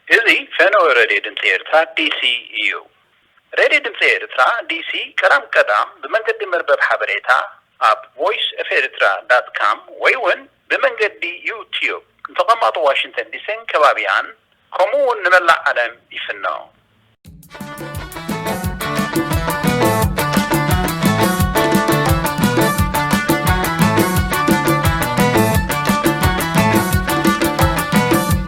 እዚ ፈነወ ሬድዮ ድምጺ ኤርትራ ዲሲ ኢዩ። ሬድዮ ድምጺ ኤርትራ ዲሲ ቀዳም ቀዳም ብመንገዲ መርበብ ሓበሬታ ኣብ ቮይስ ኦፍ ኤሪትራ ዳት ካም ወይ'ውን፣ ብመንገዲ ዩ-ትዩብ ንተቐማጦ ዋሽንተን ዲሲን ከባቢኣን ከምኡ እውን ንመላእ ዓለም ይፍኖ።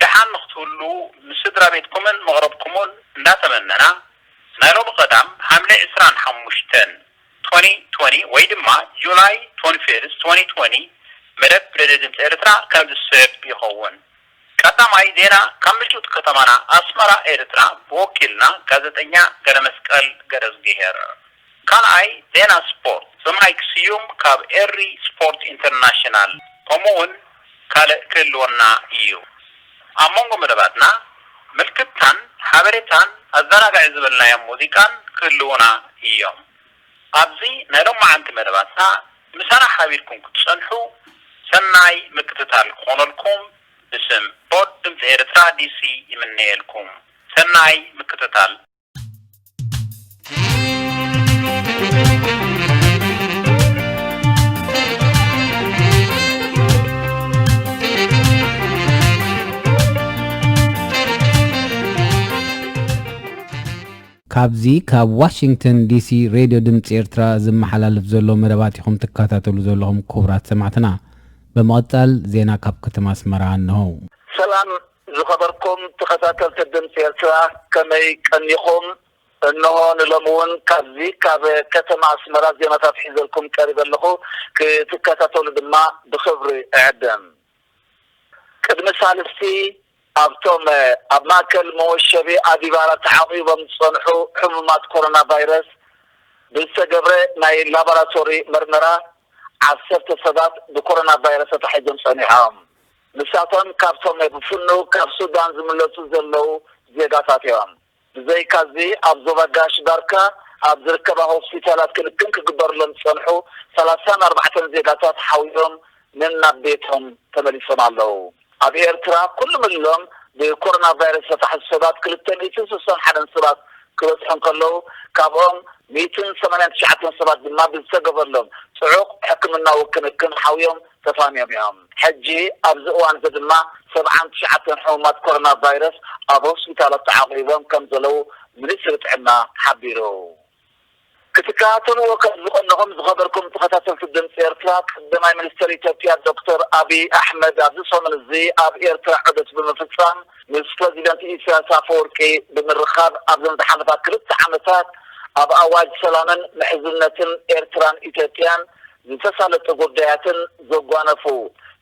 ደሓን ንክትህልዉ ምስ ስድራቤትኩምን መቕርብኩሙን እንዳተመነና፣ ናይ ሎሚ ቀዳም ሓምለ ዕስራን ሓሙሽተን፣ ትወኒ ትወኒ፣ ወይ ድማ July twenty fifth, twenty twenty፣ መደብ ሬድዮ ድምጺ ኤርትራ ከምዚ ዝስዕብ ይኸውን። ቀዳማይ ዜና ካብ ምጭውቲ ከተማና ኣስመራ ኤርትራ ብወኪልና ጋዘጠኛ ገረመስቀል ገረዝግሄር። ካልኣይ ዜና ስፖርት ብማይክ ስዩም ካብ ኤሪ ስፖርት ኢንተርናሽናል ከምኡ ውን ካልእ ክህልወና ኢዩ። ኣብ መንጎ መደባትና ምልክታን ሓበሬታን ኣዛናጋዒ ዝበልናዮም ሙዚቃን ክህልዉና ኢዮም። ኣብዚ ናይ ሎማዓንቲ መደባትና ምሳና ሓቢርኩም ክትጸንሑ ሰናይ ምክትታል ክኾነልኩም ብስም ፖድ ድምጺ ኤርትራ ዲሲ ይምነየልኩም። ሰናይ ምክትታል። ካብዚ ካብ ዋሽንግተን ዲሲ ሬድዮ ድምፂ ኤርትራ ዝመሓላለፍ ዘሎ መደባት ኢኹም ትከታተሉ ዘለኹም ክቡራት ሰማዕትና። ብምቕፃል ዜና ካብ ከተማ ኣስመራ እንሆ። ሰላም ዝኸበርኩም ተኸታተልቲ ድምጺ ኤርትራ ከመይ ቀኒኹም? እንሆ ንሎሚ ውን ካብዚ ካብ ከተማ ኣስመራ ዜናታት ሒዘልኩም ቀሪበ ኣለኹ። ክትከታተሉ ድማ ብኽብሪ እዕድም። ቅድሚ ሳልስቲ ኣብቶም ኣብ ማእከል መወሸቢ ኣዲባራ ተዓቚቦም ዝጸንሑ ሕሙማት ኮሮና ቫይረስ ብዝተገብረ ናይ ላቦራቶሪ መርመራ ዓሰርተ ሰባት ብኮሮና ቫይረስ ተታሒዞም ጸኒሖም። ንሳቶም ካብቶም ብ ፍኑው ካብ ሱዳን ዝምለሱ ዘለዉ ዜጋታት እዮም። ብዘይካ'ዚ ኣብ ዞባ ጋሽ ባርካ ኣብ ዝርከባ ሆስፒታላት ክንክን ክግበርሎም ዝጸንሑ ሰላሳን ኣርባዕተን ዜጋታት ሓውዮም ነናብ ቤቶም ተመሊሶም ኣለዉ። ኣብ ኤርትራ ኩሉምሎም ብኮሮናቫይረስ ዝተታሕዙ ሰባት ክልተ ሚእትን ስሳን ሓደን ሰባት ክበጽሑ እንከለዉ ካብኦም ሚእትን ሰማንያን ትሽዓተን ሰባት ድማ ብዝተገበርሎም ጽዑቕ ሕክምናዊ ክንክን ሓውዮም ተፋንዮም እዮም። ሕጂ ኣብዚ እዋን'ዚ ድማ ሰብዓን ትሽዓተን ሕሙማት ኮሮና ቫይረስ ኣብ ሆስፒታላት ተዓቝቦም ከም ዘለዉ ሚኒስትሪ ጥዕና ሓቢሩ። ክትከታተልዎ ከም ዝቐነኹም ዝኸበርኩም ተኸታተልቲ ድምጺ ኤርትራ፣ ቀደማይ ሚኒስተር ኢትዮጵያ ዶክተር ኣቢይ ኣሕመድ ኣብዚ ሰሙን እዚ ኣብ ኤርትራ ዑደት ብምፍጻም ምስ ፕረዚደንት ኢሳያስ ኣፈወርቂ ብምርኻብ ኣብዘን ዝሓለፋ ክልተ ዓመታት ኣብ ኣዋጅ ሰላምን ምሕዝነትን ኤርትራን ኢትዮጵያን ዝተሳለጠ ጉዳያትን ዘጓነፉ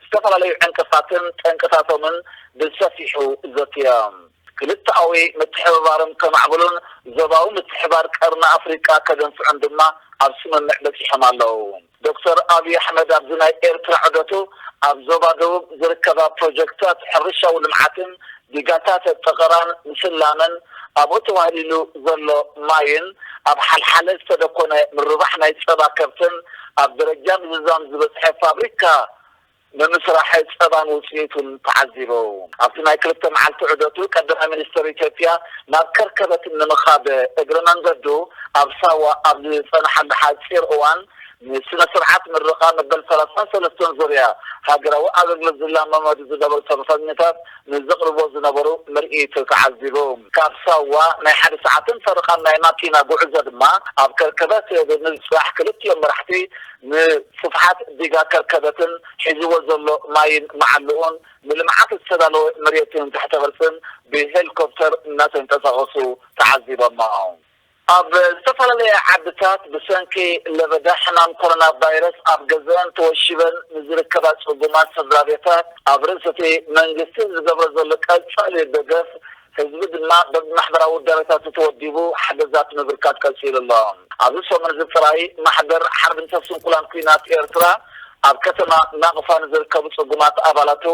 ዝተፈላለዩ ዕንቅፋትን ጠንቅታቶምን ብሰፊሑ ዘትዮም። ክልተኣዊ ምትሕብባርም ከማዕብሉን ዞባዊ ምትሕባር ቀርኒ ኣፍሪቃ ከደንፍዑን ድማ ኣብ ስምምዕ በጺሖም ኣለው። ዶክተር ኣብይ ኣሕመድ ኣብዚ ናይ ኤርትራ ዑደቱ ኣብ ዞባ ደቡብ ዝርከባ ፕሮጀክትታት ሕርሻዊ ልምዓትን ዲጋታት ጠቐራን ምስላምን ኣብኡ ተዋህሊሉ ዘሎ ማይን ኣብ ሓልሓለ ዝተደኮነ ምርባሕ ናይ ጸባ ከብትን ኣብ ደረጃ ምዝዛም ዝበጽሐ ፋብሪካ ምምስራሕ ጸባን ውጽኢቱን ተዓዚቡ ኣብቲ ናይ ክልተ መዓልቲ ዑደቱ ቀዳማይ ሚኒስተር ኢትዮጵያ ናብ ከርከበት ንምኻድ እግረ መንገዱ ኣብ ሳዋ ኣብ ዝጸንሓሉ ሓጺር እዋን ንስነ ስርዓት ምረቓ መበል ሰላሳን ሰለስተን ዙርያ ሃገራዊ ኣገልግሎት ዝላማመዱ ዝነበሩ ሰልፈኛታት ንዘቕርብዎ ዝነበሩ ምርኢት ተዓዚቡ። ካብ ሳዋ ናይ ሓደ ሰዓትን ፈረቓን ናይ ማኪና ጉዕዞ ድማ ኣብ ከርከበት ብምብጻሕ ክልቲኦም መራሕቲ ንስፍሓት ዲጋ ከርከበትን ሒዝዎ ዘሎ ማይን መዓልኡን ንልምዓት ዝተዳለወ መሬትን ትሕተ ቅርጽን ብሄሊኮፕተር እናተንቀሳቐሱ ተዓዚቦሞም። ኣብ ዝተፈላለያ ዓድታት ብሰንኪ ለበዳ ሕማም ኮሮና ቫይረስ ኣብ ገዘኣን ተወሺበን ንዝርከባ ጽጉማት ሰድራቤታት ኣብ ርእሲ'ቲ መንግስቲ ዝገብሮ ዘሎ ቀጻሊ ደገፍ ህዝቢ ድማ በብማሕበራዊ ውዳበታቱ ተወዲቡ ሓገዛት ምብርካት ቀጺሉ ኣሎ። ኣብዚ ሰሙን'ዚ ጥራይ ማሕበር ሓርብኝተር ስንኩላን ኲናት ኤርትራ ኣብ ከተማ ናቕፋ ንዝርከቡ ጽጉማት ኣባላቱ፣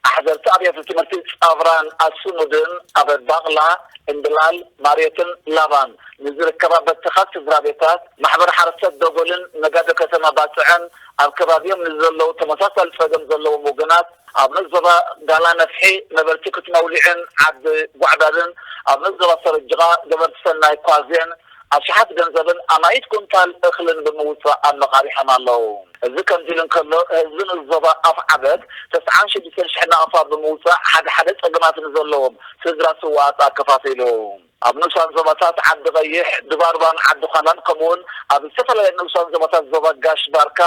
ኣሕዘርቲ ኣብያተ ትምህርቲ ጻቭራን ኣሱኑድን ኣብ ባቕላ፣ እምብላል፣ ማርዮትን ላቫን ንዝርከባ በተኻት ስድራቤታት፣ ማሕበር ሓረስቶት ዶጎልን ነጋዶ ከተማ ባጽዕን ኣብ ከባቢኦም ንዘለዉ ተመሳሳሊ ጸገም ዘለዎም ወገናት ኣብነት ዞባ ጋላ ነፍሒ ነበርቲ ክትመውሊዕን ዓዲ ጓዕዳድን ኣብነት ዞባ ሰረጅቓ ገበርቲ ሰናይ ኳዜን ኣሽሓት ገንዘብን ኣማኢት ኩንታል እኽልን ብምውጻእ ኣመቓሪሖም ኣለዉ። እዚ ከምዚ ኢሉ እንከሎ፣ ህዝቢ ንኡስ ዞባ ኣፍዓበት ተስዓን ሽዱሽተን ሽሕን ናቕፋ ብምውጻእ ሓደ ሓደ ጸገማት ንዘለዎም ስድራ ስዉኣት ኣከፋፊሉ። ኣብ ንኡሳን ዞባታት ዓዲ ቐይሕ፣ ድባርባን ዓዲ ዃላን ከምኡ'ውን ኣብ ዝተፈላለያ ንኡሳን ዞባታት ዞባ ጋሽ ባርካ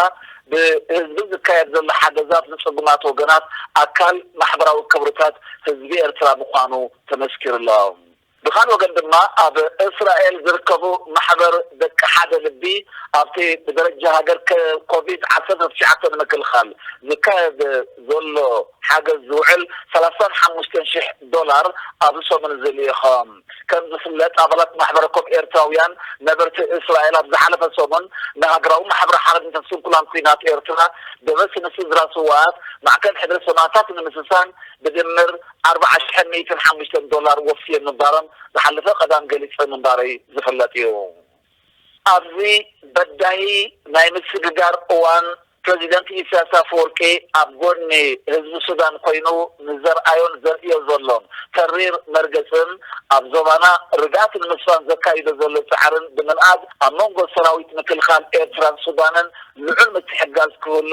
ብህዝቢ ዝካየድ ዘሎ ሓገዛት ንጽጉማት ወገናት ኣካል ማሕበራዊ ክብርታት ህዝቢ ኤርትራ ምዃኑ ተመስኪሩ ኣሎ። ብኻልእ ወገን ድማ ኣብ እስራኤል ዝርከቡ ማሕበር ደቂ ሓደ ልቢ ኣብቲ ብደረጃ ሃገር ኮቪድ ዓሰርተ ትሽዓተ ንምክልኻል ዝካየድ ዘሎ ሓገዝ ዝውዕል ሰላሳን ሓሙሽተን ሽሕ ዶላር ኣብዚ ሰሙን እዚ ልኢኾም። ከም ዝፍለጥ ኣባላት ማሕበረኮም ኤርትራውያን ነበርቲ እስራኤል ኣብ ዝሓለፈ ሰሙን ንሃገራዊ ማሕበር ሓርነትን ስንኩላን ኲናት ኤርትራ ደበስ ንስድራ ስውኣት ማዕከን ሕድሪ ሰማእታት ንምስሳን ብድምር ኣርብዓ ሽሕን ሚእትን ሓሙሽተን ዶላር ወፍየን ምንባሮም ዝሓለፈ ቀዳም ገሊጸ ምንባረይ ዝፍለጥ እዩ። ኣብዚ በዳሂ ናይ ምስግጋር እዋን ፕረዚደንት ኢሳያስ ኣፈወርቂ ኣብ ጎድኒ ህዝቢ ሱዳን ኮይኑ ንዘርኣዮን ዘርእዮ ዘሎን ተሪር መርገጽን ኣብ ዞባና ርግኣት ንምስፋን ዘካይዶ ዘሎ ጻዕርን ብምንኣድ ኣብ መንጎ ሰራዊት ምክልኻል ኤርትራን ሱዳንን ልዑል ምትሕግጋዝ ክህሉ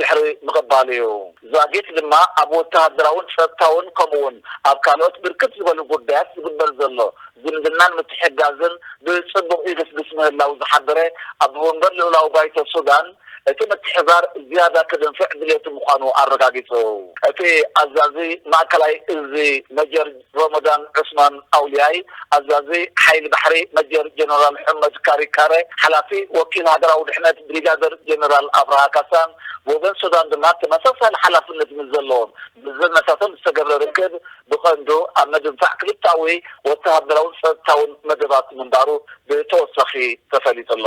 ድሕሪ ምቕባሉ'ዩ። ዛጊት ድማ ኣብ ወተሃደራውን ጸጥታውን ከምኡ'ውን ኣብ ካልኦት ብርክት ዝበሉ ጉዳያት ዝግበር ዘሎ ዝምድናን ምትሕግጋዝን ብጽቡቕ ይግስግስ ምህላዉ ዝሓበረ ኣቦመንበር ልኡላዊ ባይቶ ሱዳን፣ እቲ ምትሕብባር ዝያዳ ክድንፍዕ ድሌቱ ምዃኑ ኣረጋጊጹ። እቲ ኣዛዚ ማእከላይ እዚ መጀር ሮሞዳን ዑስማን ኣውልያይ፣ ኣዛዚ ሓይሊ ባሕሪ፣ መጀር ጀነራል ሑመድ ካሪ ካረ፣ ሓላፊ ወኪል ሃገራዊ ድሕነት ብሪጋደር ጀነራል ኣብርሃ ካሳን ብወገን ሱዳን ድማ ተመሳሳሊ ሓላፍነት ምስ ዘለዎም መዘነታቶም ዝተገብረ ርክብ ብቐንዱ ኣብ ምድንፋዕ ክልተኣዊ ወተሃደራውን ጸጥታውን መደባት ምንባሩ ብተወሳኺ ተፈሊጡ'ሎ።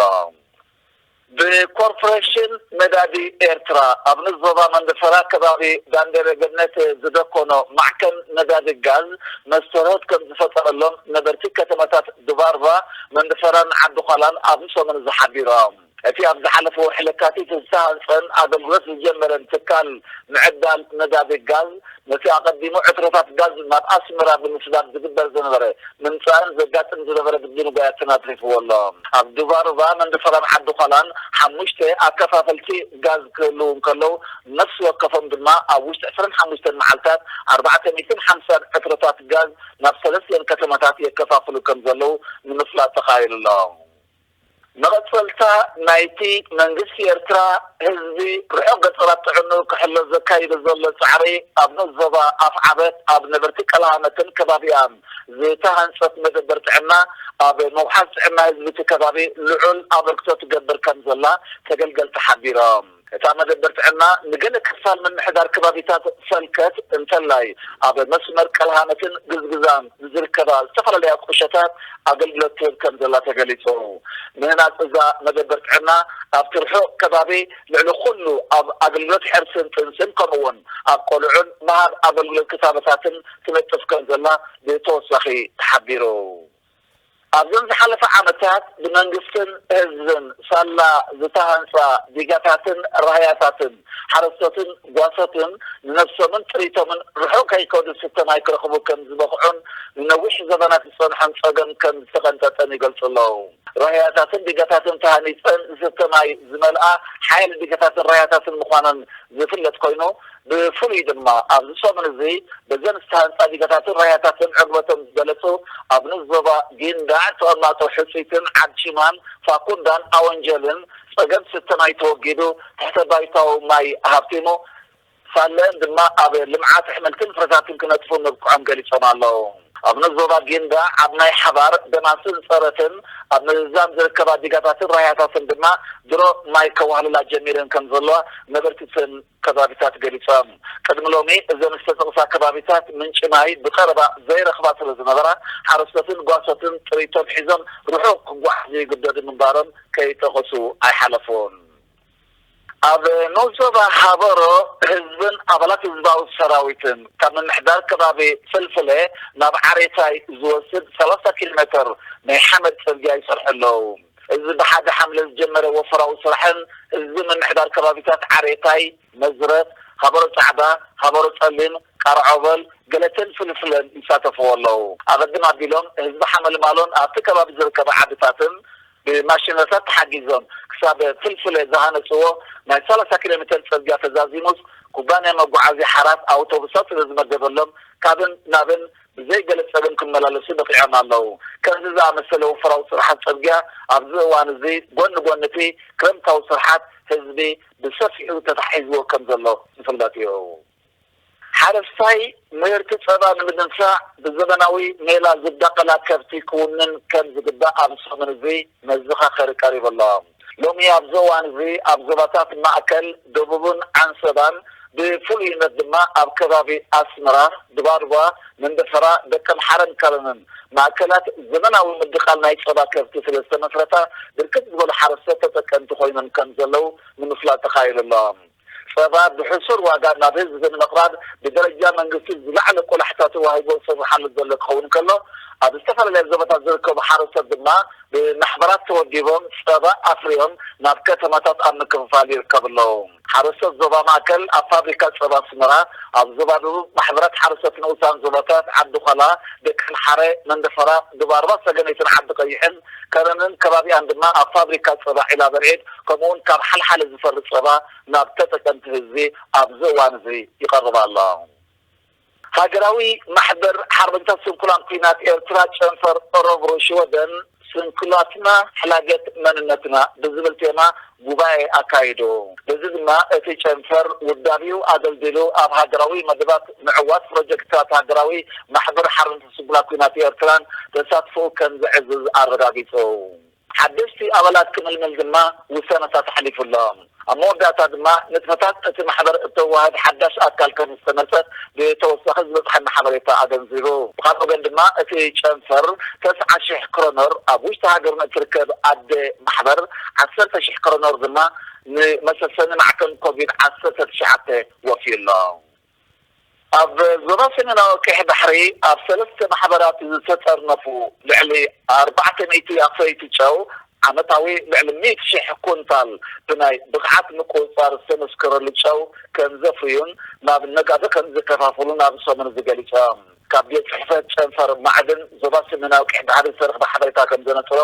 ብኮርፖረሽን ነዳዲ ኤርትራ ኣብ ንኡስ ዞባ መንደፈራ ከባቢ ዳንደረ ገነት ዝደኮኖ ማዕከን ነዳዲ ጋዝ መስተርሆት ከምዝፈጠረሎም ነበርቲ ከተማታት ዱባርቫ፣ መንደፈራን ዓዲ-ዃላን ኣብዚ ሰሙን እዚ ሓቢሮም። እቲ ኣብ ዝሓለፈ ወርሒ ለካቲት ዝተሃንጸን ኣገልግሎት ዝጀመረን ትካል ምዕዳል ነዳዲ ጋዝ፣ ነቲ ኣቐዲሙ ዕትሮታት ጋዝ ናብ ኣስመራ ብምስዳድ ዝግበር ዝነበረ ምምጻእን ዘጋጥም ዝነበረ ምድንጓያት ትን ኣትሪፍዎ ኣሎ። ኣብ ዱባሩባ፣ መንደሰራን ዓዲ-ዃላን ሓሙሽተ ኣከፋፈልቲ ጋዝ ክህልዉ እንከለዉ፣ ነፍሲ ወከፎም ድማ ኣብ ውሽጢ ዕስራን ሓሙሽተን መዓልታት ኣርባዕተ ሚእትን ሓምሳን ዕትሮታት ጋዝ ናብ ሰለስቲኤን ከተማታት የከፋፍሉ ከም ዘለዉ ንምፍላጥ ተኻኢሉ ኣሎ። መቐጸልታ ናይቲ መንግስቲ ኤርትራ ህዝቢ ርሑቕ ገጠራት ጥዕንኡ ክሕሎ ዘካይዶ ዘሎ ጻዕሪ ኣብ ንኡስ ዞባ ኣፍዓበት ኣብ ነበርቲ ቀላሃመትን ከባቢኣን ዝተሃንጸት መደበር ጥዕና ኣብ ምውሓስ ጥዕና ህዝቢ'ቲ ከባቢ ልዑል ኣበርክቶ ትገብር ከምዘላ ተገልገልቲ ሓቢሮም። እታ መደበር ጥዕና ንገለ ክፋል ምምሕዳር ከባቢታት ሰልከት እንተላይ ኣብ መስመር ቀልሃነትን ግዝግዛን ንዝርከባ ዝተፈላለያ ቁሸታት ኣገልግሎት ትህብ ከምዘላ ተገሊጹ። ምህናጽ እዛ መደበር ጥዕና ኣብቲ ርሑቕ ከባቢ ልዕሊ ኩሉ ኣብ ኣገልግሎት ሕርስን ጥንስን ከምኡ'ውን ኣብ ቆልዑን ምሃብ ኣገልግሎት ክታበታትን ትነጥፍ ከምዘላ ብተወሳኺ ተሓቢሩ። ኣብዘን ዝሓለፋ ዓመታት ብመንግስትን ህዝብን ሳላ ዝተሃንጻ ዲጋታትን ራህያታትን ሓረስቶትን ጓሶትን ንነብሶምን ጥሪቶምን ርሑቕ ከይከዱ ዝስተ ማይ ክረኽቡ ከም ዝበቕዑን ንነዊሕ ዘበናት ዝጸንሖም ጸገም ከም ዝተቐንጠጠን ይገልጹ ኣለዉ። ራህያታትን ዲጋታትን ተሃኒጸን ዝስተ ማይ ዝመልኣ ሓያለ ዲጋታትን ራህያታትን ምዃነን ዝፍለጥ ኮይኑ፣ ብፍሉይ ድማ ኣብዚ ሰሙን እዚ በዘን ዝተሃንጻ ዲጋታትን ራያታትን ዕግበቶም ዝገለጹ ኣብ ንኡስ ዞባ ጊንዳዕ ተቐማጦ ሕጺትን ዓድ ቺማን ፋኩንዳን ኣወንጀልን ጸገም ስተ ማይ ተወጊዱ ትሕተ ባይታዊ ማይ ሃብቲሙ ሳለ ድማ ኣብ ልምዓት ኣሕምልትን ፍረታትን ክነጥፉ ምብቅዖም ገሊጾም ኣለዉ። ኣብ ንኡስ ዞባ ጊንዳዕ ኣብ ናይ ሓባር ደማስን ጸረትን ኣብ ምዝዛም ዝርከባ ዲጋታትን ራያታትን ድማ ድሮ ማይ ከዋህልላ ጀሚረን ከምዘለዋ ነበርቲ እተን ከባቢታት ገሊፆም። ቅድሚ ሎሚ እዘን ዝተጠቕሳ ከባቢታት ምንጪ ማይ ብቐረባ ዘይረኽባ ስለዝነበራ ሓረስቶትን ጓሶትን ጥሪቶም ሒዞም ርሑቕ ክጓዓዙ ይግደዱ ምንባሮም ከይጠቐሱ ኣይሓለፉን። ኣብ ንኡስ ዞባ ሃበሮ ህዝብን ኣባላት ህዝባዊ ሰራዊትን ካብ ምምሕዳር ከባቢ ፍልፍለ ናብ ዓሬታይ ዝወስድ ሰላሳ ኪሎ ሜተር ናይ ሓመድ ፅርግያ ይሰርሑ ኣለው። እዚ ብሓደ ሓምለ ዝጀመረ ወፈራዊ ስራሕን ህዝቢ ምምሕዳር ከባቢታት ዓሬታይ፣ መዝረት፣ ሃበሮ ጻዕዳ፣ ሃበሮ ጸሊም፣ ቃርዖበል፣ ገለቴን ፍልፍለን ይሳተፍዎ ኣለዉ። ኣቐድም ኣቢሎም ህዝቢ ሓመልማሎን ኣብቲ ከባቢ ዝርከባ ዓድታትን ብማሽነሪታት ተሓጊዞም ክሳብ ፍልፍለ ዝሃነጽዎ ናይ ሰላሳ ኪሎ ሜተር ጽርግያ ተዛዚሙስ ኩባንያ መጓዓዝያ ሓራት ኣውቶቡሳት ስለዝመደበሎም ካብን ናብን ብዘይ ገለ ጸገም ክመላለሱ በቒዖም ኣለዉ። ከምዚ ዝኣመሰለ ወፈራዊ ስርሓት ጽርግያ ኣብዚ እዋን እዚ ጎኒ ጎኒ እቲ ክረምታዊ ስርሓት ህዝቢ ብሰፊሑ ተታሒዝዎ ከም ዘሎ ዝፍለጥ እዩ። ሓረስታይ ምህርቲ ጸባ ንምድንፋዕ ብዘበናዊ ሜላ ዝዳቐላ ከብቲ ክውንን ከም ዝግባእ ኣብዚ ሰሙን እዚ መዘኻኸሪ ቀሪቡ ኣሎ። ሎሚ ኣብዚ እዋን እዚ ኣብ ዞባታት ማእከል፣ ደቡብን ዓንሰባን ብፍሉይነት ድማ ኣብ ከባቢ ኣስመራ፣ ድባድባ፣ መንደፈራ፣ ደቀምሓረን ከረንን ማእከላት ዘመናዊ ምድቓል ናይ ጸባ ከብቲ ስለ ዝተመስረታ ብርክት ዝበሉ ሓረስቶት ተጠቀምቲ ኮይኖም ከም ዘለዉ ንምፍላጥ ተኻኢሉ ኣሎ። ፀባ ብሕሱር ዋጋ ናብ ህዝቢ ንምቕራብ ብደረጃ መንግስቲ ዝለዓለ ቆላሕታ ተዋሂቦ ዝስርሓሉ ዘሎ ክኸውን ከሎ ኣብ ዝተፈላለያ ዞባታት ዝርከቡ ሓረስቶት ድማ ብማሕበራት ተወዲቦም ፀባ ኣፍርዮም ናብ ከተማታት ኣብ ምክፍፋል ይርከቡ ኣለዉ። ሓረስቶት ዞባ ማእከል ኣብ ፋብሪካ ፀባ ኣስመራ፣ ኣብ ዞባ ደቡብ ማሕበራት ሓረስቶት ንኡሳን ዞባታት ዓዲ ዃላ፣ ደቀምሓረ፣ መንደፈራ፣ ዱባርባ ሰገነይትን ዓዲ ቀይሕን፣ ከረንን ከባቢኣን ድማ ኣብ ፋብሪካ ፀባ ዒላበርዒድ ከምኡ ውን ካብ ሓልሓለ ዝፈሪ ፀባ ናብ ተጠቀምቲ ህዝቢ ኣብዚ እዋን እዚ ይቐርብ ኣሎ። ሃገራዊ ማሕበር ሓርበኛታት ስንኩላን ኲናት ኤርትራ ጨንፈር ኦረብሩ ሽወደን ስንኩላትና ሕላገት መንነትና ብዝብል ቴማ ጉባኤ ኣካይዱ። በዚ ድማ እቲ ጨንፈር ውዳቤኡ ኣደልዲሉ ኣብ ሃገራዊ መደባት ምዕዋት ፕሮጀክትታት ሃገራዊ ማሕበር ሓርነት ስንኩላን ኲናት ኤርትራን ተሳትፎኡ ከም ዘዕዝዝ ኣረጋጊጹ። ሓደሽቲ ኣባላት ክምልምል ድማ ውሳነታት ኣሕሊፉ ኣሎ። ኣብ መወዳእታ ድማ ንጥፈታት እቲ ማሕበር እተዋህብ ሓዳሽ ኣካል ከም ዝተመርጸ ብተወሳኺ ዝበጽሓና ሓበሬታ ኣገንዚቡ። ብኻልእ ወገን ድማ እቲ ጨንፈር ተስዓ ሽሕ ክሮነር ኣብ ውሽጢ ሃገር ንእትርከብ ኣደ ማሕበር ዓሰርተ ሽሕ ክሮኖር ድማ ንመሰሰኒ ማዕከን ኮቪድ ዓሰርተ ትሽዓተ ወፍዩ ኣሎ። ኣብ ዞባ ሰሜናዊ ቀይሕ ባሕሪ ኣብ ሰለስተ ማሕበራት ዝተጠርነፉ ልዕሊ ኣርባዕተ ሚእቲ ኣፍረይቲ ጨው ዓመታዊ ልዕሊ ሚእቲ ሽሕ ኩንታል ብናይ ብቕዓት ምቁጽጻር ዝተመስከረሉ ጨው ከምዘፍርዩን ናብ ነጋዶ ከምዘከፋፍሉን ኣብዚ ሰሙን እዚ ገሊጾም። ካብ ቤት ጽሕፈት ጨንፈር ማዕድን ዞባ ሰሜናዊ ቀይሕ ባሕሪ ዝተረኽበ ሓበሬታ ከምዘነጽሮ፣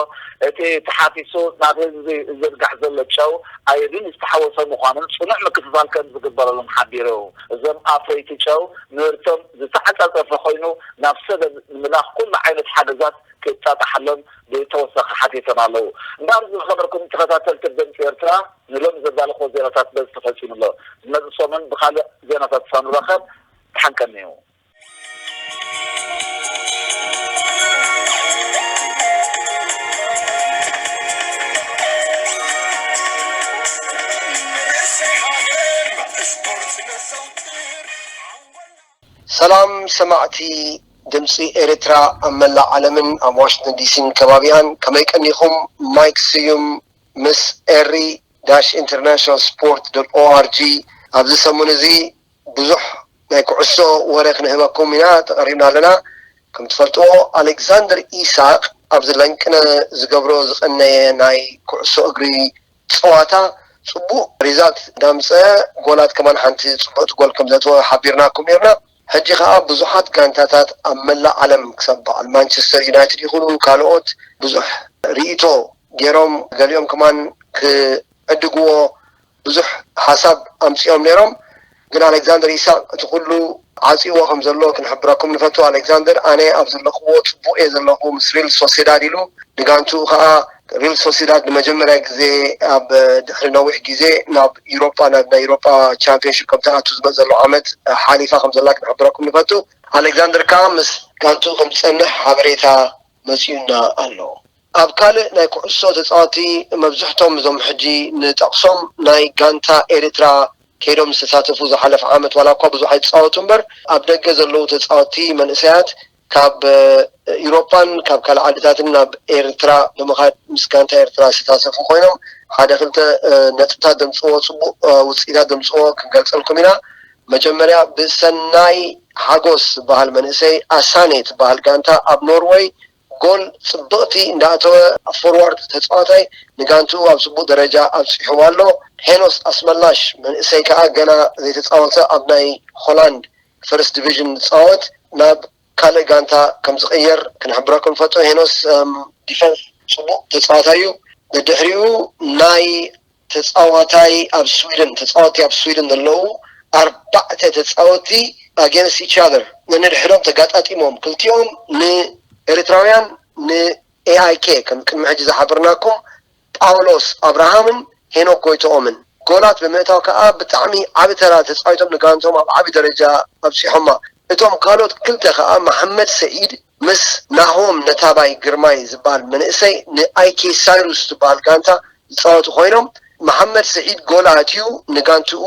እቲ ተሓፊሱ ናብ ህዝቢ ዝዝርጋሕ ዘሎ ጨው ኣዮዲን ዝተሓወሶ ምዃኑን ጽኑዕ ምክፍፋል ከምዝግበረሉን ሓቢሩ። እዞም ኣፍረይቲ ጨው ምህርቶም ዝተዓጻጸፈ ኮይኑ ናብ ሰደድ ንምልኣኽ ኩሉ ዓይነት ሓገዛት ክጣጣሓሎም ብተወሳኺ ሓቲቶም ኣለዉ። እምበኣር ዝኸበርኩም ተኸታተልቲ ድምጺ ኤርትራ ንሎሚ ዘዳለኹዎ ዜናታት በዚ ተፈጺሙ ኣሎ። ዝመጽእ ሰሙን ብኻልእ ዜናታት ሳንራኸብ ድሓን ቀንዩ። ሰላም ሰማዕቲ ድምፂ ኤርትራ ኣብ መላእ ዓለምን ኣብ ዋሽንተን ዲሲን ከባቢኣን ከመይ ቀኒኹም ማይክ ስዩም ምስ ኤሪ ዳሽ ኢንተርናሽናል ስፖርት ዶት ኦኣርጂ ኣብዚ ሰሙን እዚ ብዙሕ ናይ ኩዕሶ ወረ ክንህበኩም ኢና ተቐሪብና ኣለና። ከም ትፈልጥዎ ኣሌክዛንደር ኢሳቕ ኣብዚ ለንቅነ ዝገብሮ ዝቐነየ ናይ ኩዕሶ እግሪ ጸዋታ ጽቡቕ ሪዛልት እንዳምጸ ጎላት ከማን ሓንቲ ጽብቕቲ ጎል ከም ዘእተወ ሓቢርናኩም ኔርና። ሕጂ ከኣ ብዙሓት ጋንታታት ኣብ መላእ ዓለም ክሳብ በዓል ማንቸስተር ዩናይትድ ይኹኑ ካልኦት ብዙሕ ሪኢቶ ጌሮም ገሊኦም ከማን ክዕድግዎ ብዙሕ ሓሳብ ኣምጺኦም ኔሮም ግን ኣለክዛንደር ኢሳቅ እቲ ኩሉ ዓጺዎ ከም ዘሎ ክንሕብረኩም ንፈቱ ኣለክዛንደር ኣነ ኣብ ዘለክዎ ጽቡቅ እየ ዘለኩ ምስ ሪል ሶሴዳድ ኢሉ ንጋንትኡ ከኣ ሪል ሶሴዳድ ንመጀመርያ ግዜ ኣብ ድሕሪ ነዊሕ ግዜ ናብ ዩሮጳ ናብ ናይ ዩሮጳ ቻምፕዮንሺፕ ከም ትኣቱ ዝመጽእ ዘሎ ዓመት ሓሊፋ ከም ዘላ ክንሕብረኩም ንፈቱ ኣለክዛንደር ከኣ ምስ ጋንትኡ ከም ዝጸንሕ ሓበሬታ መጺኡና ኣሎ። ኣብ ካልእ ናይ ኩዕሶ ተጻወቲ መብዝሕቶም እዞም ሕጂ ንጠቕሶም ናይ ጋንታ ኤሪትራ ከይዶም ዝተሳተፉ ዝሓለፈ ዓመት ዋላ እኳ ብዙሕ ኣይተጻወቱ እምበር ኣብ ደገ ዘለዉ ተጻወቲ መንእሰያት ካብ ኢሮፓን ካብ ካልእ ዓድታትን ናብ ኤሪትራ ብምኻድ ምስ ጋንታ ኤሪትራ ዝተሳተፉ ኮይኖም ሓደ ክልተ ነጥብታት ዘምጽእዎ ጽቡቕ ውጽኢታት ዘምጽእዎ ክንገልጸልኩም ኢና መጀመርያ ብሰናይ ሓጎስ ዝብሃል መንእሰይ ኣሳኔ ትብሃል ጋንታ ኣብ ኖርወይ ጎል ጽብቕቲ እንዳኣተወ ኣብ ፎርዋርድ ተጻዋታይ ንጋንትኡ ኣብ ጽቡቕ ደረጃ ኣብጺሕዋ ኣሎ። ሄኖስ ኣስመላሽ መንእሰይ ከኣ ገና ዘይተጻወተ ኣብ ናይ ሆላንድ ፈርስት ዲቪዥን ዝጻወት ናብ ካልእ ጋንታ ከምዝቕየር ክንሕብረኩም ንፈቱ። ሄኖስ ኣብ ዲፈንስ ጽቡቕ ተጻዋታይ'ዩ። ደድሕሪኡ ናይ ተጻዋታይ ኣብ ስዊድን ተጻወቲ ኣብ ስዊድን ዘለዉ ኣርባዕተ ተጻወቲ ኣገንስት ኢች ኣዘር ነንሕድሕዶም ተጋጣጢሞም ክልቲኦም ንኤሪትራውያን ን AIK ከም ቅድሚ ሕጂ ዝሓበርናኩም ጳውሎስ ኣብርሃምን ሄኖክ ጎይትኦምን ጎላት ብምእታው ከኣ ብጣዕሚ ዓቢ ተራ ተጻዊቶም ንጋንትኦም ኣብ ዓቢ ደረጃ ኣብጺሖማ እቶም ካልኦት ክልተ ከኣ መሓመድ ሰዒድ ምስ ናሆም ነታባይ ግርማይ ዝብሃል መንእሰይ ንኣይኬ ሳይሩስ ዝትብሃል ጋንታ ዝጻወቱ ኮይኖም መሓመድ ስዒድ ጎል ኣእትዩ ንጋንትኡ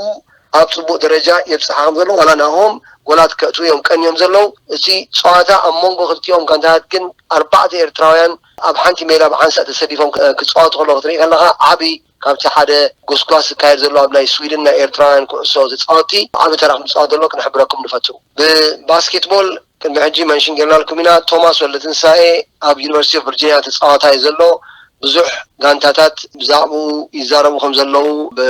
ኣብ ጽቡቕ ደረጃ የብጽሓ ከምዘሎ ዋላ ናሆም ጎላት ከእትዉ እዮም ቀንዮም ዘለዉ እቲ ጸዋታ ኣብ መንጎ ክልቲኦም ጋንታታት ግን ኣርባዕተ ኤርትራውያን ኣብ ሓንቲ ሜዳ ብሓንሳእ ተሰሊፎም ክጻወቱ ከለዉ ክትርኢ ከለኻ ዓቢ ካብቲ ሓደ ጎስጓስ ዝካየድ ዘሎ ኣብ ናይ ስዊድን ናይ ኤርትራውያን ኩዕሶ ተጻወቲ ዓቢ ተራ ከምዝጻወት ዘሎ ክንሕብረኩም ንፈቱ ብባስኬትቦል ክንዲ ሕጂ መንሽን ጌርናልኩም ኢና ቶማስ ወልደትንሳኤ ኣብ ዩኒቨርሲቲ ኦፍ ቨርጂንያ ተጻዋታይ እዩ ዘሎ ብዙሕ ጋንታታት ብዛዕብኡ ይዛረቡ ከም ዘለዉ ብ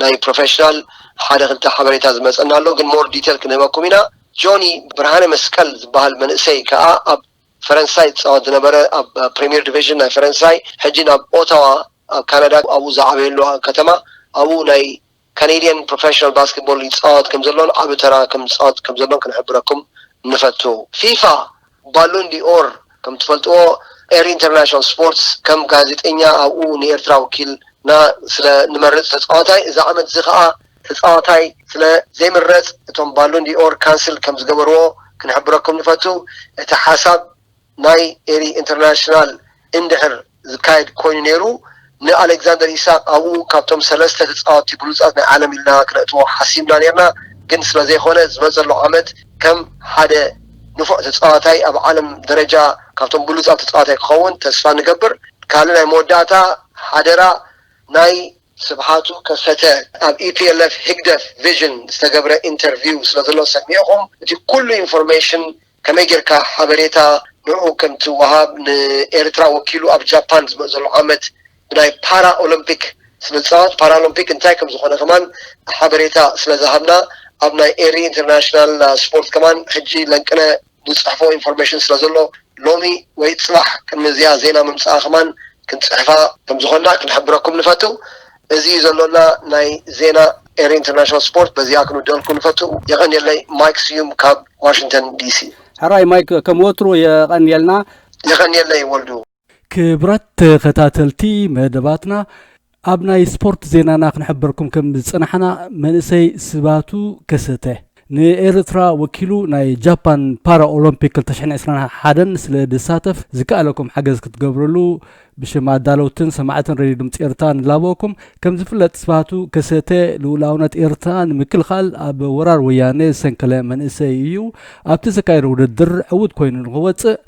ናይ ፕሮፈሽናል ሓደ ክልተ ሓበሬታ ዝመጸና ኣሎ ግን ሞር ዲቴል ክንህበኩም ኢና ጆኒ ብርሃነ መስቀል ዝብሃል መንእሰይ ከኣ ኣብ ፈረንሳይ ዝጻወት ዝነበረ ኣብ ፕሪሚየር ዲቪዥን ናይ ፈረንሳይ ሕጂ ናብ ኦታዋ ኣብ ካናዳ ኣብኡ ዝዓበየሉ ከተማ ኣብኡ ናይ ካነድያን ፕሮፈሽናል ባስኬትቦል ይጻወት ከምዘሎን ዓቢ ተራ ከም ዝጻወት ከም ዘሎን ክንሕብረኩም ንፈቱ። ፊፋ ባሎን ዲ'ኦር ከም ትፈልጥዎ ኤሪ ኢንተርናሽናል ስፖርትስ ከም ጋዜጠኛ ኣብኡ ንኤርትራ ወኪልና ስለ ንመርጽ ተጻዋታይ እዚ ዓመት'ዚ ከኣ ተጻዋታይ ስለ ዘይምረጽ እቶም ባሎን ዲ'ኦር ካንስል ከም ዝገበርዎ ክንሕብረኩም ንፈቱ እቲ ሓሳብ ናይ ኤሪ ኢንተርናሽናል እንድሕር ዝካየድ ኮይኑ ነይሩ ን ኣለግዛንደር ኢሳቅ ኣብኡ ካብቶም ሰለስተ ተጻወቲ ብሉጻት ናይ ዓለም ኢልና ክነእትዎ ሓሲብና ነርና ግን ስለ ዘይኮነ ዝመጸሉ ዓመት ከም ሓደ ንፉዕ ተጻዋታይ ኣብ ዓለም ደረጃ ካብቶም ብሉጻት ተጻዋታይ ክኸውን ተስፋ ንገብር ካልእ ናይ መወዳእታ ሓደራ ናይ ስብሓቱ ከሰተ ኣብ EPLF ህግደፍ ቪዥን ዝተገብረ ኢንተርቪው ስለ ዘሎ ሰሚዕኹም እቲ ኩሉ ኢንፎርሜሽን ከመይ ጌርካ ሓበሬታ ንዑ ከም ትወሃብ ንኤርትራ ወኪሉ ኣብ ጃፓን ዝመእ ዘሎ ዓመት ብናይ ፓራ ኦሎምፒክ ስለ ዝጻወት ፓራሎምፒክ እንታይ ከም ዝኾነ ከማን ሓበሬታ ስለ ዝሃብና ኣብ ናይ ኤሪ ኢንተርናሽናል ስፖርት ከማን ሕጂ ለንቅነ ንጽሕፎ ኢንፎርሜሽን ስለ ዘሎ ሎሚ ወይ ጽባሕ ቅድሚ እዚኣ ዜና ምምጽኣ ከማን ክንጽሕፋ ከም ዝኾንና ክንሕብረኩም ንፈቱ። እዚ እዩ ዘሎና ናይ ዜና ኤሪ ኢንተርናሽናል ስፖርት በዚኣ ክንውድኣልኩም ንፈቱ። የቐንየለይ ማይክ ስዩም ካብ ዋሽንግተን ዲሲ። ሕራይ ማይክ ከም ወትሩ የቐንየልና። የቐንየለይ ወልዱ። ክብራት ተኸታተልቲ መደባትና ኣብ ናይ ስፖርት ዜናና ክንሕበርኩም ከም ዝጸናሕና መንእሰይ ስባቱ ከሰተ፣ ንኤርትራ ወኪሉ ናይ ጃፓን ፓራ ኦሎምፒክ ክልተ ሽሕን ዕስራን ሓደን ስለ ድሳተፍ ዝከኣለኩም ሓገዝ ክትገብርሉ ብሽም ኣዳለውትን ሰማዕትን ሬድዮ ድምጺ ኤርትራ ንላበወኩም። ከም ዝፍለጥ ስብሃቱ ከሰተ ልኡላውነት ኤርትራ ንምክልኻል ኣብ ወራር ወያኔ ዝሰንከለ መንእሰይ እዩ። ኣብቲ ዘካየዶ ውድድር ዕውት ኮይኑ ንክወጽእ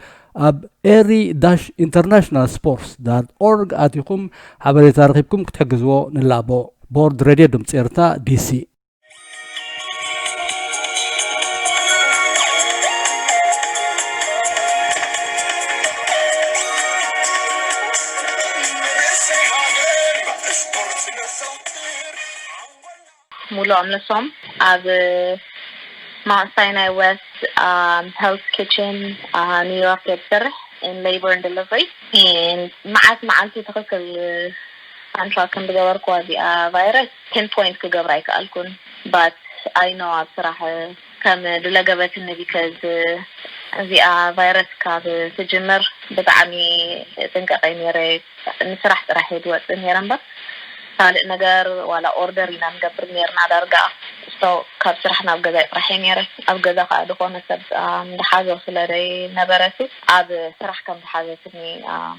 ኣብ ኤሪ ዳሽ ኢንተርናሽናል ስፖርትስ ዳት ኦርግ ኣቲኹም ሓበሬታ ረኺብኩም ክትሕግዝዎ ንላቦ። ቦርድ ሬድዮ ድምጺ ኤርትራ፣ ዲሲ። ሙሉ ኣምለሶም ኣብ ማውንት ሳይናይ ዌስት ሄልስ ኪችን ኒውዮርክ እያ ትሰርሕ ን ሌበር ን ደለቨሪ ን መዓልቲ መዓልቲ ትክክል ኣንታ ክንዲ ገበርክዋ እዚኣ ቫይረስ ፒን ፖይንት ክገብራ ኣይከኣልኩን but i know ኣብ ስራሕ ከም ድለገበትኒ because እዚኣ ቫይረስ ካብ ትጅምር ብጣዕሚ እጥንቀቅ እየ ነይረ ንስራሕ ጥራሕ እየ ዝወፅእ ነይረ እምበር ካልእ ነገር ዋላ ኦርደር ኢና ንገብር ነይርና ዳርጋ so ካብ ስራሕ ናብ ገዛይ ጥራሕ እየ ነይረ ኣብ ገዛ ከዓ ድኮነ ሰብ ኣም ዝሓዞ ስለ ዘይነበረ ሲ ኣብ ስራሕ ከም ዝሓዘትኒ ኣም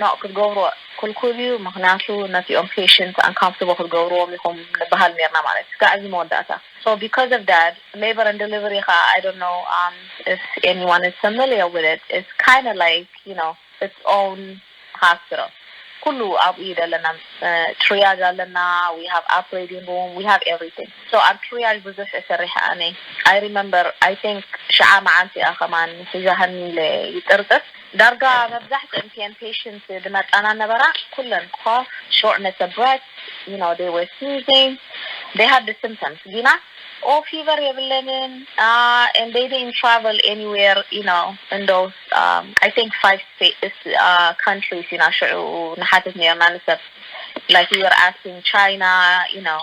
ኖእ ክትገብርዎ ክልኩል እዩ ምክንያቱ ነቲኦም ፔሽንት ኣንካምፍተብል ክትገብርዎም ኢኩም ንባሃል ኔርና ማለት እስካዕ እዚ መወዳእታ ሶ ቢኮዝ ኦፍ ዳት ሌበር ኣንድ ደሊቨሪ ካኣ ኣይ ዶንት ኖው ኣፍ ኤኒ ዋን ኢዝ ፋሚልየር ዊዝ ኢት ኢትስ ካይንድ ላይክ ዩ ኖው ኢትስ ኦውን ሃስፒታል ኩሉ ኣብኡ እዩ ደለና ትርያጅ ኣለና ዊ ሃቭ ኣፕሬዲንግ ሩም ዊ ሃቭ ኤቭሪቲንግ ሶ ኣብ ትርያጅ ብዙሕ እየ ሰሪሐ ኣነ ኣይ ሪመምበር ኣይ ቲንክ ሽዓ ማዓልቲ እያ ከማን ሒዛሃኒ ኢለ ይጥርጥር ዳርጋ መብዛሕትእን ቲኤን ፔሽንት ድመጣና ነበራ ኩለን እኮ ሾርትነሰ ብረት ዩ ኖው ዴይ ወር ስኒዚንግ ዴይ ሃድ ስምተምስ ጊና ኦው ፊቨር የብለንን ኣንድ ዴይ ዲድንት ትራቨል ኤኒ ዌር ዩ ኖው ን ዶስ ኣይ ቲንክ ፋይቭ ካንትሪስ ኢና ሽዑ ንሓትት ኔርና ንሰብ ላይክ ዊ ወር ኣስኪንግ ቻይና ዩ ኖው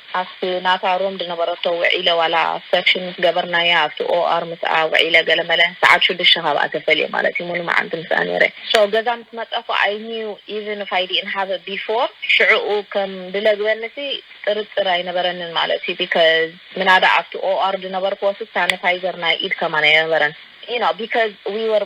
ኣብቲ ናታ ሮም ዝነበረቶ ውዒለ ዋላ ሰክሽን ምስ ገበርናያ ኣብቲ OR ምስኣ ውዒለ ገለመለ ሰዓት ሽዱሽተ ካብኣ ተፈልየ ማለት እዩ ሙሉ መዓልቲ ምስኣ ነይረ so ገዛ ምስ መጸኩ I knew even if I didn't have it before ሽዑኡ ከም ድለግበኒሲ ጥርጥር ኣይነበረንን ማለት እዩ because ምናዳ ኣብቲ OR ዝነበርኩዎሲ ሳነታይዘር ናይ ኢድ ከማን ኣይነበረን you know because we were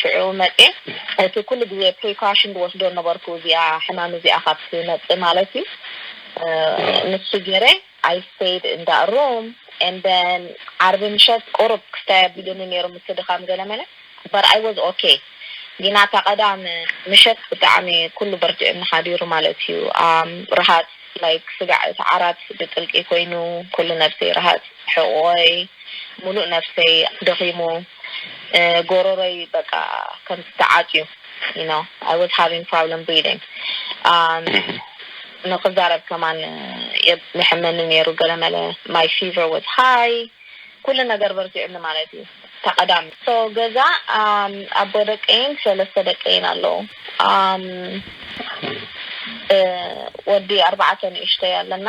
ሽዑ መጼ እቲ ኩሉ ግዜ ፕሪካሽን ድወስዶ ነበርኩ እዚኣ ሕማም እዚኣ ካብ ትመጽእ ማለት እዩ ንሱ ጌረ ኣይ ስተይድ እንዳ ሮም and then ዓርቢ ምሸት ቁሩብ ክስታይ ኣቢሉኒ ኔሩ ምትድኻም ገለመለ but ኣይ ወዝ ኦኬ ጊና እታ ቀዳም ምሸት ብጣዕሚ ኩሉ በርቲዑኒ ሓዲሩ ማለት እዩ ኣም ርሃጽ like ስጋዕ እቲ ዓራት ብጥልቂ ኮይኑ ኩሉ ነብሰይ ርሃጽ ሕቖይ ሙሉእ ነብሰይ ደኺሙ ጎሮሮይ በቃ ከምቲ ተዓጽዩ you know I was having problem breathing um ንክዛረብ ከማን ይሕመኒ ነይሩ ገለመለ my fever was high ኩሉ ነገር በርቲዑኒ ማለት እዩ ተቀዳሚ so ገዛ um ኣቦ ደቀይን ሰለስተ ደቀይን ኣለዉ um ወዲ ኣርባዕተ ንእሽተይ ኣለና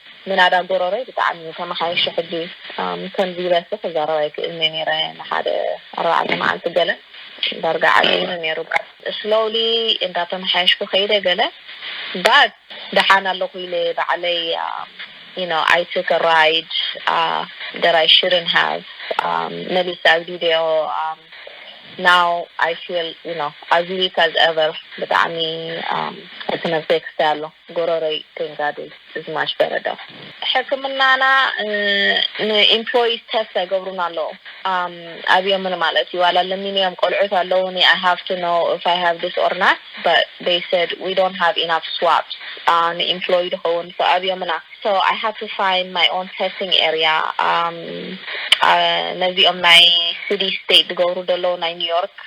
ምናዳ ጎሮሮይ ብጣዕሚ እዩ ተመሓይሹ ሕጂ ከምዚ ኢለሲ ክዛረብ ኣይክእልን እየ ኔረ ንሓደ ኣርባዕተ መዓልቲ ገለ ዳርጋ ዓብዩኒ ኔሩ but slowly እንዳተመሓየሽኩ ከይደ ገለ but ደሓን ኣለኹ ኢለ ባዕለይ you know I took a ride that I shouldn't have መሊሰ ኣግዲደዮ now I feel you know as weak as ever ብጣዕሚ እቲ ነብሰይ ክስተይ ኣሎ። ጎሮሮይ ክንጋድል እዝማች በረዳ። ሕክምናና ን ኢምፕሎይስ ተስት ኣይገብሩን ኣለዉ ኣብዮምኒ ማለት እዩ ዋላ ለሚነዮም ቆልዑት ኣለዉኒ ኣይ ሃቭ ቱ ኖው እፍ ኣይ ሃቭ ድስ ኦር ናት በት ዘይ ሰድ ዊ ዶንት ሃቭ ኢናፍ ስዋፕስ ን ኢምፕሎይ ድከዉን ሶ ኣብዮምና ሶ ኣይ ሃድ ቱ ፋይንድ ማይ ኦን ተስቲንግ ኤርያ ነዚኦም ናይ ስዲ ስተይት ድገብሩ ደለዉ ናይ ኒውዮርክ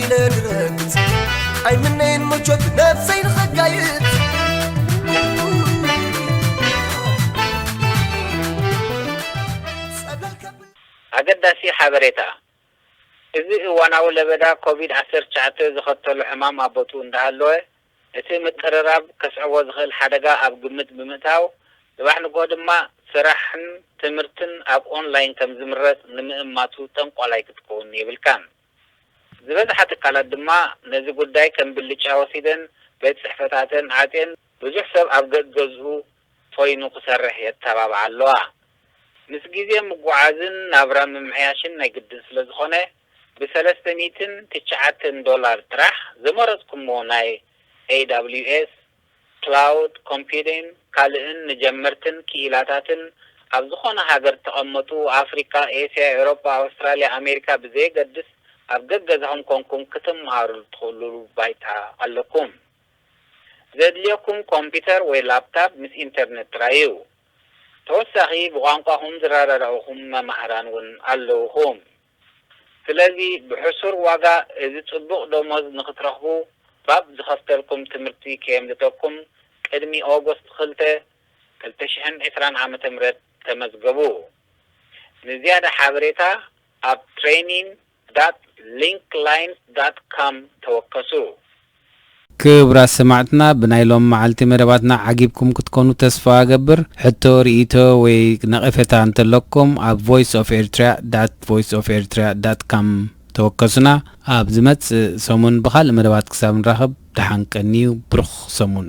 ይነግረግጽ ኣይምነይን ምቾት ነብሰይ ንኸጋይት ኣገዳሲ ሓበሬታ! እዚ እዋናዊ ለበዳ ኮቪድ ዓሰርተ ትሽዓተ ዘኸተሎ ሕማም ኣብ ቦትኡ እንዳሃለወ፣ እቲ ምቅርራብ ከስዕቦ ዝኽእል ሓደጋ ኣብ ግምት ብምእታው፣ ጽባሕ ንግሆ ድማ ስራሕን ትምህርትን ኣብ ኦንላይን ከምዝምረጽ ንምእማቱ ጠንቋላይ ክትከውን የብልካን። ዝበዝሓ ትካላት ድማ ነዚ ጉዳይ ከም ብልጫ ወሲደን ቤት ጽሕፈታተን ዓጽየን ብዙሕ ሰብ ኣብ ገገዝኡ ኾይኑ ክሰርሕ የተባብዓ ኣለዋ። ምስ ግዜ ምጉዓዝን ናብራ ምምሕያሽን ናይ ግድን ስለ ዝኾነ ብሰለስተ ሚእትን ትችዓተን ዶላር ጥራሕ ዝመረጽኩሞ ናይ AWS ክላውድ ኮምፒዩዲን ካልእን ንጀመርትን ክኢላታትን ኣብ ዝኾነ ሃገር ተቐመጡ ኣፍሪቃ ኤስያ ኤሮጳ ኣውስትራልያ ኣሜሪካ ብዘየገድስ ኣብ ገገዛኹም ኮንኩም ክትመሃሩሉ ትኽእሉሉ ባይታ ኣለኩም ዘድልየኩም ኮምፒተር ወይ ላፕታብ ምስ ኢንተርነት ጥራይ እዩ ተወሳኺ ብቋንቋኹም ዝረዳዳኡኹም መማህራን ውን ኣለውኹም። ስለዚ ብሕሱር ዋጋ እዚ ጽቡቕ ደሞዝ ንኽትረኽቡ ባብ ዝኸፍተልኩም ትምህርቲ ከየምልጠኩም ቅድሚ August ክልተ፣ ክልተ ሽሕን ዕስራን ዓመተ ምህረት ተመዝገቡ። ንዝያዳ ሓበሬታ ኣብ training dot linklines dot com ተወከሱ። ክብራት ሰማዕትና ብናይ ሎሚ መዓልቲ መደባትና ዓጊብኩም ክትኮኑ ተስፋ እገብር። ሕቶ፣ ርኢቶ ወይ ነቐፌታ እንተለኩም ኣብ voice of eritrea at voice of eritrea dot com ተወከሱና። ኣብ ዝመጽእ ሰሙን ብኻልእ መደባት ክሳብ ንራኸብ ደሓን ቀንዩ። ብሩኽ ሰሙን።